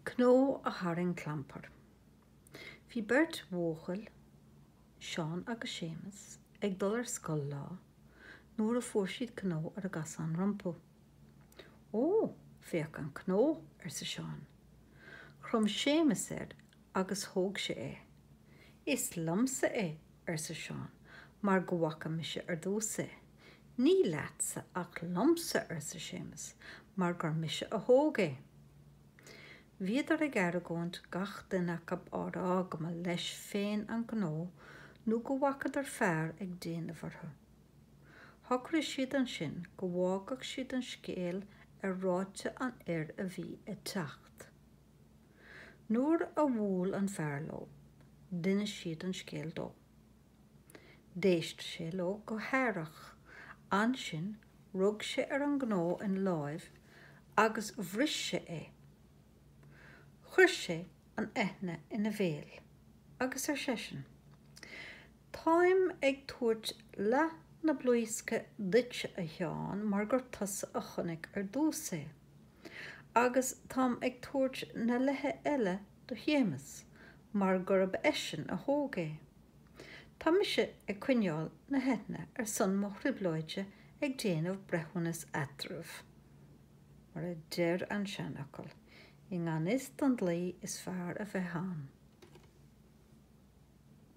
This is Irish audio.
Cnó a tharraing clampar. Bhí beirt bhuachaill, Seán agus Séamus, ag dul ar scoil lá nuair a fuair siad cnó ar a gcasán rompu. Ó, féach an cnó, arsa Seán. Chrom Séamus air agus thóg sé é. Is liomsa é, arsa Seán, mar go bhfaca mise ar dtús é. Ní leatsa ach liomsa, arsa Séamus, mar gur mise a thóg é. Bhíodar ag argóint, gach duine acu á rá go mba leis féin an cnó nó go bhfacadar fear ag déanamh orthu. Shocraigh siad ansin go bhfágfadh siad an scéal ar ráite an fhir a bhí ag teacht. Nuair a bhuail an fear leo, d'inis siad an scéal dó. D'éist sé leo go haireach. Ansin rug sé ar an gcnó ina láimh agus bhris sé é. Chuir sé an eithne ina bhéal agus ar seisean, Táim ag tabhairt leath na blaoisce duitse, a Sheáin, mar gur tusa a chonaic ar dtús é. Agus táim ag tabhairt na leithe eile do Shéamus mar gurb eisean a thóg é. Tá mise ag coinneáil na heithne ar son mo thrioblóide ag déanamh breithiúnas eadraibh. Mar a deir an seanfhocal, i ngan fhios don dlí is fearr a bheith ann.